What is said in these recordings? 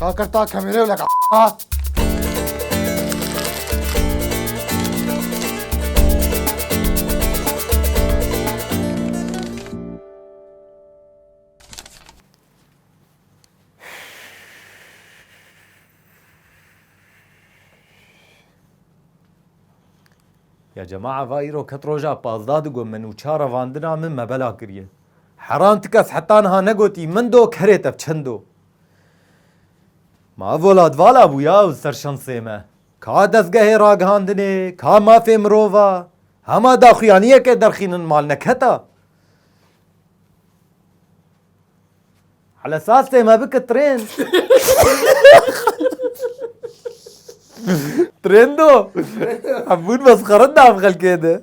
Kakir ta kamerê wile Ya cema'a va îro ket roja pazda digo min û ça revandina min me bela kiriye. Heran ti kes heta niha negotî min do kerê tev çend o. Ma ev welat vala bû ya ew ser şansê me. Ka dezgehê ragihandinê, ka mafê mirova, hema daxuyaniyeke derxînin mal neketa. Hele sastê me bike trên. Trêndo. Hebûn mesxerin da ev xelkê de.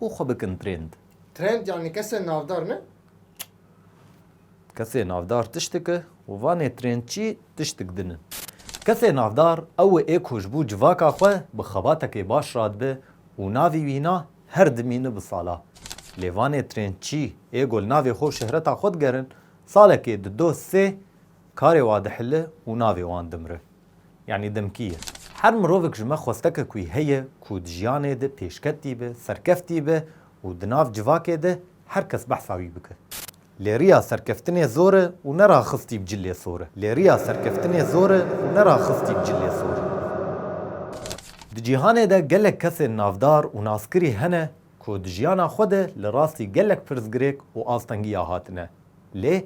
û xwe bikin trend. Trend yanî kesên navdar ne? Kesê navdar tiştik e û vanê trend jî tiştik din in. Kesê navdar ew ê ku ji bo civaka xwe bi xebatekê baş radibe û navî wî na her dimîne bi sala. Lê vanê trend jî ê ku li navê xwe û şehreta xwe digerin, salekê di doh sê karê wa dihile û navê wan dimire. Yanî dimkî ye. Her mirovik ji me xwesteke ku heye ku di jiyanê de pêşketî be, serkeftî be û di nav civakê de her kes behsa wî bike. Lê riya serkeftinê zor e û ne raxistî bi cilê sor e. Lê riya serkeftinê zor e û ne raxistî bi cilê sor e. Di cîhanê de gelek kesên navdar û naskirî hene ku di jiyana xwe de li rastî gelek pirsgirêk û astengiya hatine. Lê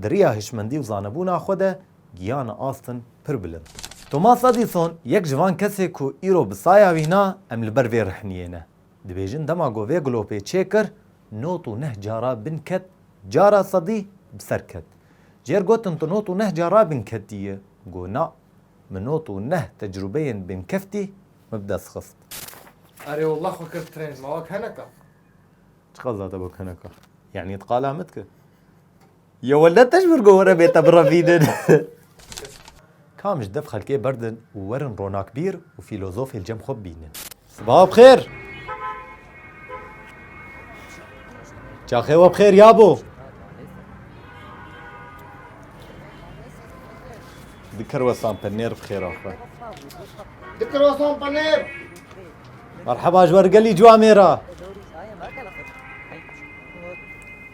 Di riya hişmendî û zanebûna xwe de giyane astin pir bilind. Thomas Edison yek ji van kesê ku îro bi saya wî na em li ber vê rihniyê ne. Dibêjin dema ku vê glopê çê kir not û neh cara bin ket cara sedî bi ser ket. Jêr gotin tu not û neh cara bin ketiye? Got na, min not û neh tecrubeyên bin keftî min bi dest xist. Erê walla xwe kir trend, ma wek heneka. Çiqas date wek heneka? Yanî tu qala min dikir? Ya wele te ji vir govere bê te birevînin. Kam ji dev xelkê berdin û werin ronakbîr û fîlozofê li cem xwe bibînin. Sibaha bi xêr. Çaxê we bi xêr ya bo. Di kirwesan penêr bi xêra xwe. Di kirwesan penêr. Merheba ji wer gelî ciwa mêra.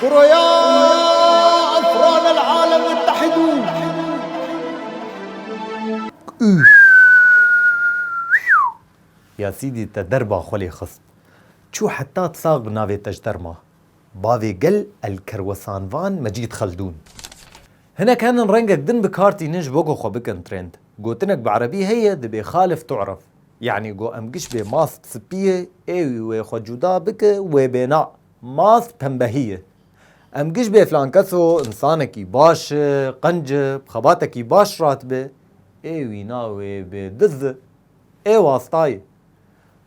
Kuroya Efran el Alem Muttehidûn. Üf! Ya Sîdî te derba xwe lê xist. Çû heta Tsax bi navê te ji derma. Bavê gel el Kerwesanvan Mecîd Xeldûn. Hinek henin rengek din bi kar tînin ji bo ku xwe bikin trend. Gotinek bi erebî heye dibê Xalif tu'ref. Yanî ku em giş bê mast sipî ye ê wî wê xwe cuda bike wê bêna. Mast pembehî ye. Em giş bê filan keso însanekî baş e, qenc e, bi xebatekî baş radibe, ê wîna wê bê diz e. Ê wasta ye.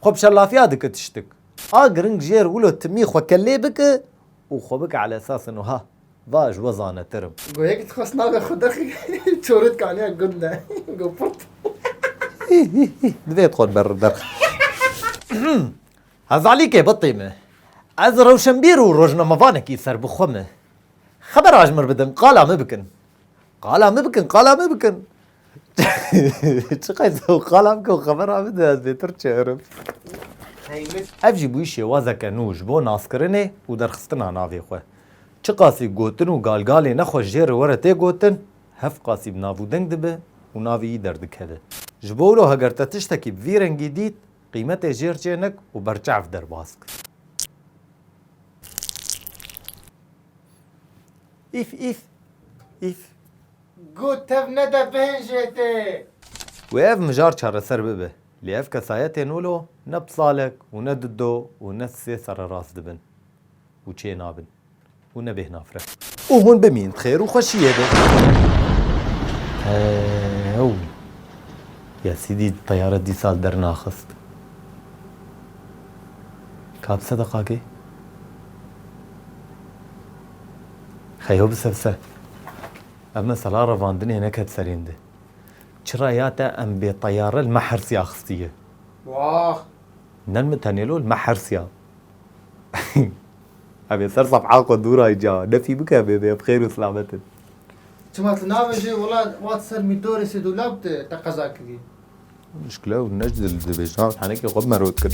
Xwe bi şelafiya dike tiştik. A giring jê re wilo timî xwe kelê bike û xwe bike ala esasên wiha, Va ez ji we zanetir im. Go yekî dixwest navê xwe dixî çorê dikaniya gund de. Go purt. Hî hî hî. Divê tu xwe li ber re derxî. Hezalîkê bitî me. Ez rewşenbîr û rojnamevanekî serbixwe me. Xebera ji min bidin, qala min bikin. Qala min bikin, qala min bikin. Çi qeysa û qala bike û xebera bide ez zêtir çêirim. Ev jî bûyî şêwazeke nû ji bo naskirinê û derxistina navê xwe. Çiqasî gotin û galgalê ne xwe jê re were tê gotin, hev qasî bi navûdeng dibe û navê yî derdikeve. Ji bo wilo heger te tiştekî bi vî rengî dît, qîmetê jêr çênik û berçav derbas kir. Îf îf îf. Got tev nede bihên jê tê. Wê ev mijar çareser bibe. Lê ev kesayetên wilo ne bi salek û ne di do û ne sê sererast dibin û çênabin. û ne bêhna fre. Û hûn bimîn bi xêr û xweşiyê de. Ew ya sîdî teyare dîsa li der naxist. Ka bi se de qakê? Xeyo bi se bi se. Ev mesela revandinê neket serên de. Çira ya te em bê teyare li me hersiya xistiye. Wax! Nen min tenêlo li me hersiya. Em ê ser sefha xwe dûrayîn ca ne fî bike em ê bê bixêr û silametin. Çima tu navêjî wila wat ser mîtorê Sêdûlab tu te qeza kirî. Muşkil ew ne ji dil dibê jinan tenekê xwe bime rot kin.